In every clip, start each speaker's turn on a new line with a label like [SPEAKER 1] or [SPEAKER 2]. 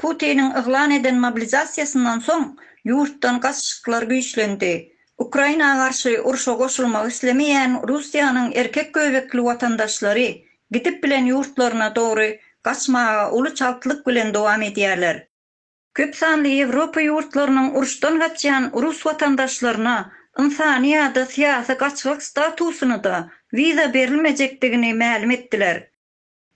[SPEAKER 1] Putiniň yglan eden mobilizasiýasyndan soň ýurtdan gasyşyklar güýçlendi. Ukraina garşy urşa goşulmak islemeýän Russiýanyň erkek göbekli watandaşlary gidip bilen ýurtlaryna dogry gaçmaga uly çaltlyk bilen dowam edýärler. Köp sanly Ýewropa ýurtlarynyň uruşdan gaçýan rus watandaşlaryna ynsany ýa-da syýasy gaçgak statusyny-da wiza berilmejekdigini mälim etdiler.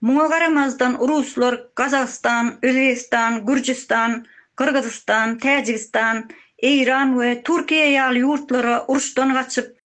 [SPEAKER 1] Muňa garamazdan ruslar Gazagystan, Özbegistan, Gürjüstan, Gyrgyzystan, Täjigistan, Eýran we Türkiýe ýaly ýurtlara uruşdan gaçyp,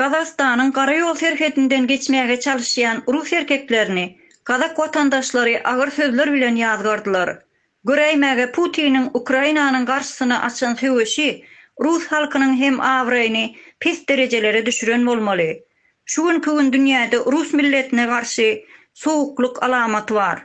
[SPEAKER 2] Gazagystanyň gara
[SPEAKER 1] ýol serhedinden geçmäge çalyşýan rus erkeklerini gazak watandaşlary agyr sözler bilen ýazgardylar. Göräýmäge Putiniň Ukrainanyň garşysyna açan söweşi rus halkynyň hem abraýyny pes derejelere düşüren bolmaly. Şu günki gün dünýäde rus milletine garşy sowuklyk alamaty bar.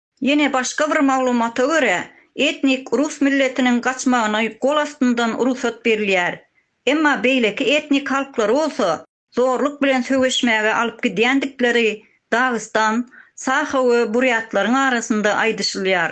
[SPEAKER 3] Ýene
[SPEAKER 1] başga bir maglumata görä, etnik rus milletiniň gaçmagyny gol astyndan rugsat berilýär. Emma beýleki etnik halklary bolsa zorluk bilen söweşmäge alyp gidýändikleri Dagystan, Saho we Burýatlaryň arasynda aýdyşylýar.